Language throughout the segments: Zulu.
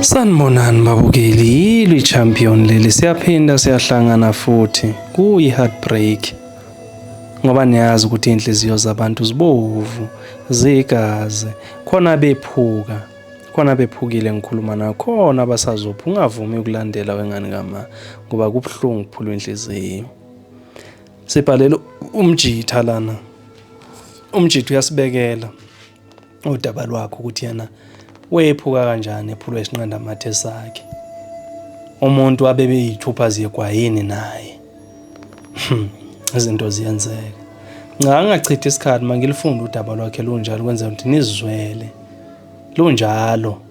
Sanibonani babukeli, yilo i-champion leli, siyaphinda siyahlangana futhi kuyi-heartbreak ngoba niyazi ukuthi iy'nhliziyo zabantu zibovu zigazi khona bephuka khona bephukile ngikhuluma nayo khona abasazopha ungavumi ukulandela wengane kama ngoba kubuhlungu kuphulwa inhliziyo Sibhalela umjitha lana. Umjitha uyasibekela udaba lwakho ukuthi yena wephuka kanjani ephulwa isinqanda mathe sakhe. Umuntu abebe yithupha ziyegwayini naye. Hmm, izinto ziyenzeka. Cha angachithi isikhathi mangilifunda udaba lwakhe lunjalo kwenza ukuthi nizizwele. Lunjalo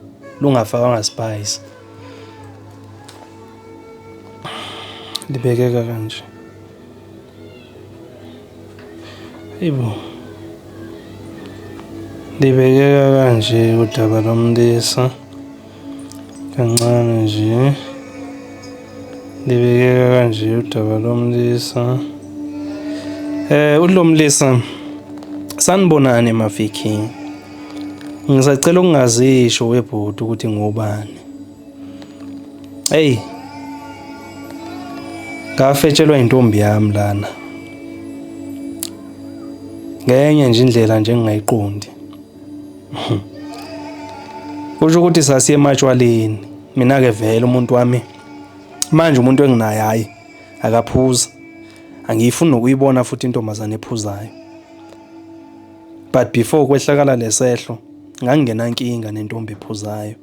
lungafakanga spice. libekeka kanje ibo libekeka kanje udaba lomlisa kancane nje libekeka kanje udaba lomlisa eh ulomlisa sanibonani maviking ngisacela ukungazisho webhuti ukuthi ngubani Hey. Ngafetshelwa intombi yami lana. Ngenye nje indlela nje engingayiqondi. Kusho ukuthi sasiye ematshwaleni. Mina ke vele umuntu wami manje umuntu enginaye hayi akaphuza. Angiyifuni nokuyibona futhi intombazane ephuzayo. But before kwehlakala lesehlo ngangingena nkinga nentombi ephuzayo.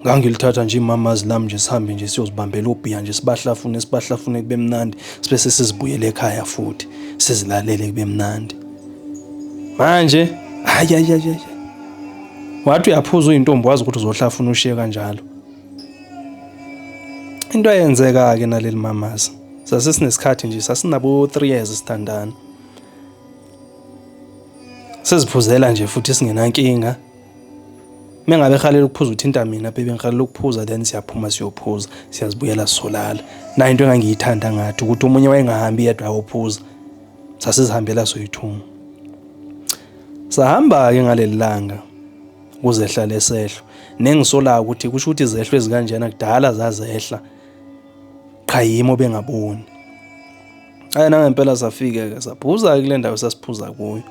ngangilithatha nje imamazi lami nje sihambe nje siyozibambela obhiya nje sibahlafune sibahlafune kube mnandi sibe sesizibuyele ekhaya futhi sizilalele kube mnandi manje hayi hayi hayi wathi uyaphuza uyintombi wazi ukuthi uzohlafuna ushiye kanjalo into eyenzeka ke naleli mamazi sasesinesikhathi nje sasinabo 3 years sithandana siziphuzela nje futhi singenankinga uma ngabe ehalela ukuphuza uthinta mina bebe ngihalela ukuphuza then siyaphuma siyophuza siyazibuyela sisolala nayo into engangiyithanda ngathi ukuthi omunye wayengahambi yedwa ayophuza sasizihambela soyithuma sahamba-ke ngaleli langa kuzehla lesehlo nengisolayo ukuthi kusho ukuthi izehlo ezikanjena kudala zazehla qha yimo bengaboni ayi nangempela safike-ke saphuza-ke kule ndawo sasiphuza kuyo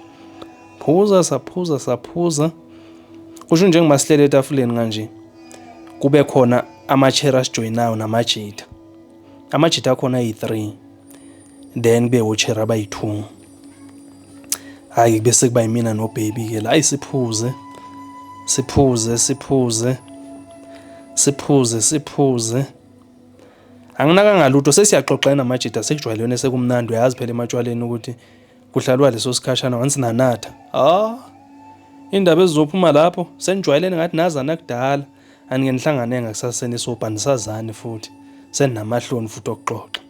phuza saphuza saphuza kusho njengoba sihlele etafuleni kanje kube khona ama-chair asijoyinayo namajita amajita akhona ayi-three then kube wo-chair abayi-two hhayi kube sekuba yimina nobhebi-ke la ayi siphuze siphuze siphuze siphuze siphuze anginakanga lutho sesiyaxoxana amajita sekujwayelene sekumnandi uyazi phela ematshwaleni ukuthi Kuhlalwa leso sikhashana once nanatha. Ah. Indaba ezizophuma lapho senijwayelene ngathi nazana kudala. Anike nihlangane ngakusaseni sopa nisazani futhi. Seninamahloni futhi okuxoxa.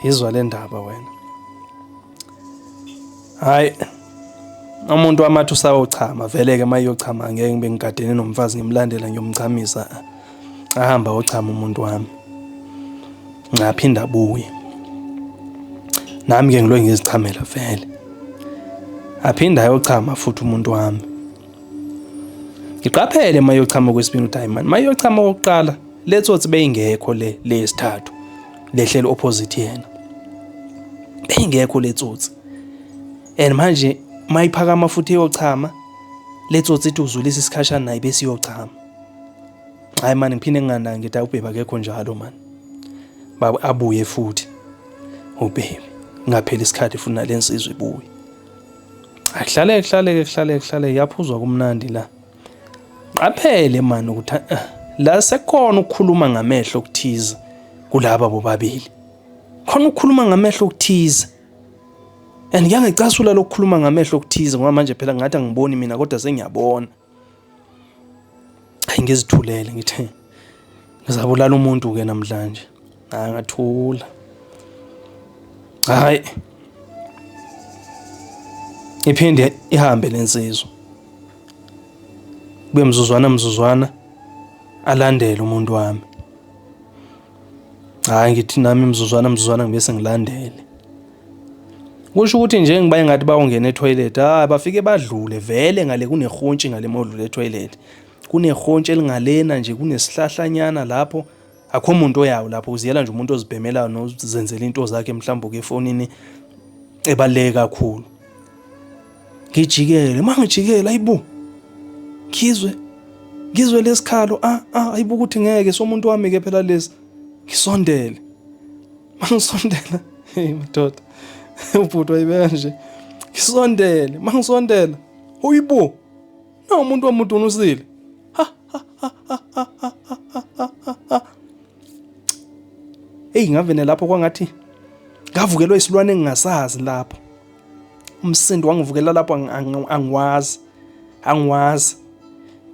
Yizwa le ndaba wena. Hayi. Umuntu wamathu sayochama vele ke mayochama ngeke ngibe ngigadene nomfazi ngimlandela ngiyomchamisa. ahamba ochama umuntu wami ngaphinda abuye nami ke ngilo ngizichamela vele aphinda ayochama futhi umuntu wami ngiqaphele mayochama kwesibini udiamond mayochama okokuqala letsothi beyingekho le lesithathu lehlelo opposite yena beyingekho letsotsi and manje mayiphakama futhi eyochama letsotsi ithi uzulisa isikhashana naye bese iyochama hayi mani ngiphinde nginganaki ngithi ubhebi akekho njalo mani baba abuye futhi ubhebi ngapheli isikhathi futhi nale nsizwa ibuye ahlale kuhlale kuhlale kuhlale yaphuzwa kumnandi la qaphele mani ukuthi eh, la sekhona ukukhuluma ngamehlo okuthize kulaba bobabili khona ukukhuluma ngamehlo okuthize and ngiyangicasula lokukhuluma ngamehlo okuthize ngoba manje phela ngathi angiboni mina kodwa sengiyabona hayi ngizithulele ngithe ngizabulala umuntu ke namhlanje hayi ngathula hayi iphinde ihambe lensizwa kube mzuzwana mzuzwana alandele umuntu wami Hhayi ngithi nami mzuzwana mzuzwana ngibe sengilandele. Kusho ukuthi nje ngiba engathi bawungena etoilet, hhayi bafike badlule vele ngale kunehontshi ngale modlule etoilet. Kunehontshi elingalena nje kunesihlahlanyana lapho akho muntu oyawo lapho uziyela nje umuntu ozibhemelayo nozenzela into zakhe mhlawumbe uke efonini ebaluleke kakhulu. ngijikele mangijikela ayibo ngizwe ngizwe lesikhalo ah ah ayibo ukuthi ngeke somuntu wami ke phela lesi ngisondele mangisondela hey madoda ubhuti wayibeka nje ngisondele mangisondela uyibo no umuntu wamudunusile eyi ngavene lapho kwangathi ngavukelwa isilwane engingasazi lapho umsindo wangivukela lapho angiwazi angiwazi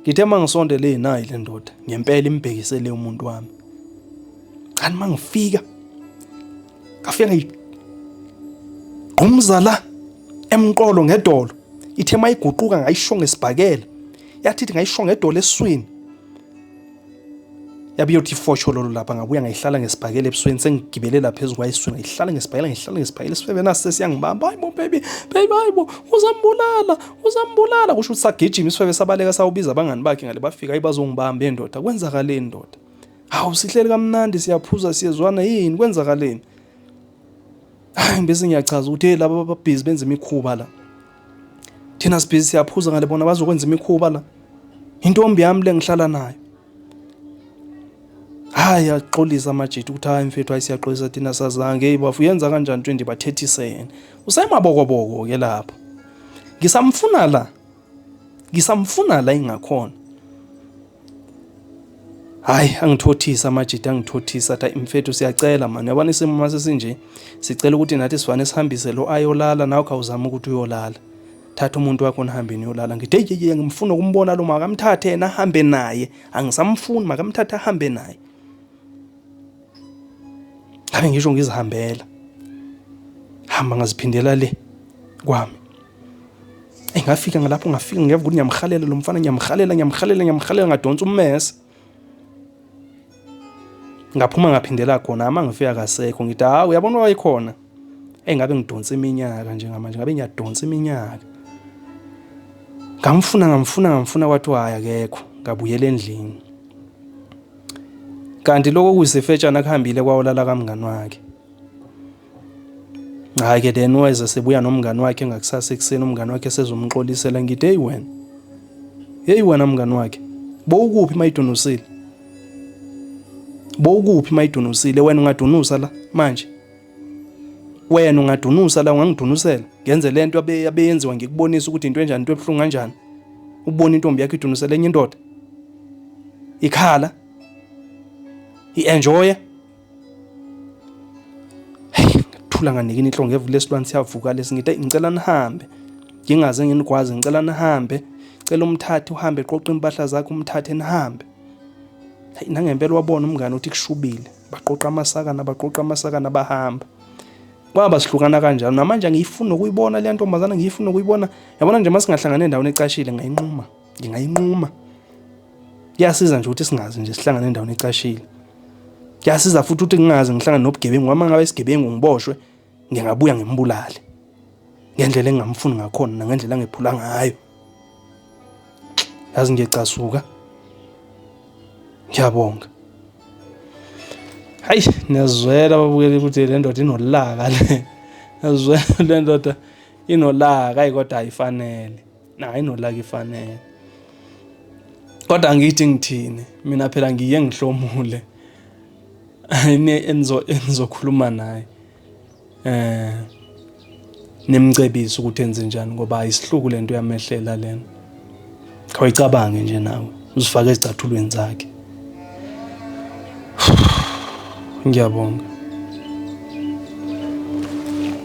ngithe uma ngisondele nayi le ndoda ngempela imbhekisele umuntu wami kanti uma ngifika ngafika ngigqumza la emqolo ngedolo ithe uma iguquka ngayisho ngesibhakela yathithi ngayisho ngedolo eswini yabe iyothi ifosho lolo lapha ngabuya ngayihlala ngesibhakela ebusweni sengigibelela phezu kwayisweni ngayihlala ngesibhakela ngayihlala ngesibhakela isifebe nasi sesiyangibamba hayi bo baby baby hayi bo uzambulala uzambulala kusho ukuthi sagijima isifebe sabaleka sawubiza abangani bakhe ngale bafika hayi bazongibamba endoda kwenzakaleni ndoda hawu sihleli kamnandi siyaphuza siyezwana yini kwenzakaleni hayi bese ngiyachaza ukuthi hey laba babhizi benza imikhuba la thina sibhizi siyaphuza ngale bona bazokwenza imikhuba la intombi yami le ngihlala nayo hayi axolisa amajita ukuthi hayi mfethu hayi siyaxolisa thina sazange hey bafu yenza kanjani into endibathethisene usemabokoboko ke lapho ngisamfuna la ngisamfuna la ingakhona hayi angithothisa amajita angithothisa athi mfethu siyacela mani yabona isimo uma sesinje sicela ukuthi nathi sivane sihambise lo ayolala nawe khawuzama ukuthi uyolala thatha umuntu wakho nihambe niyolala ngithi hey yeye ngimfuna ukumbona lo makamthathe yena ahambe naye angisamfuni makamthathe ahambe naye ngabe ngisho ngizihambela hamba ngaziphindela le kwami Eyi ngafika ngalapho ngafika ngeva ukuthi ngiyamhalela lo mfana ngiyamhalela ngiyamhalela ngiyamhalela ngadonsa ummese ngaphuma ngaphindela khona ama ngifika kasekho ngithi hawu uyabona wayekhona eyi ngabe ngidonsa iminyaka njengamanje ngabe ngiyadonsa iminyaka ngamfuna ngamfuna ngamfuna kwathiwa hhayi akekho ngabuyela endlini kanti lokho kuyisifetshana kuhambile kwawolala kamngani wakhe Hhayi ke then weza sebuya nomngani wakhe ngakusasa ekuseni umngani wakhe sezomxolisela ngithi heyi wena heyi wena mngani wakhe bowukuphi mayidunusile bowukuphi mayidunusile wena ungadunusa la manje wena ungadunusa la ungangidunusela ngenze le nto abeyenziwa ngikubonisa ukuthi into enjani into ebuhlungu kanjani ubona intombi yakho idunusela enye indoda ikhala i-enjoya ngathula nganikini inhlongo ngevule esilwane siyavuka lesi ngithi ngicela nihambe ngingaze nginikwazi ngicela nihambe cela umthathe uhambe qoqa impahla zakhe umthathe nihambe hayi nangempela wabona umngane uthi kushubile baqoqa amasakana baqoqa amasakana bahamba kwaba sihlukana kanjalo namanje angiyifuni nokuyibona le ntombazana ngiyifuni nokuyibona yabona nje uma singahlangana endaweni ecashile ngayinquma ngingayinquma kuyasiza nje ukuthi singazi nje sihlangane endaweni ecashile kuyasiza futhi ukuthi ngingazi ngihlangane nobugebengu uma ngabe isigebengu ngiboshwe ngingabuya ngimbulale ngendlela engingamfuni ngakhona nangendlela angephula ngayo yazi ngiyecasuka ngiyabonga hayi niyazwela babukeli ukuthi le ndoda inolaka le niyazwela le ndoda inolaka ayi kodwa ayifanele Hayi no like ifanele. Kodwa ngithi ngithini? Mina phela ngiye ngihlomule. Ayine enzo enzokhuluma naye. Eh nimcebisa ukuthi enze njani ngoba ayisihluku lento yamehlela lena. Khawayicabange nje nawe uzifake ezicathulweni zakhe. Ngiyabonga.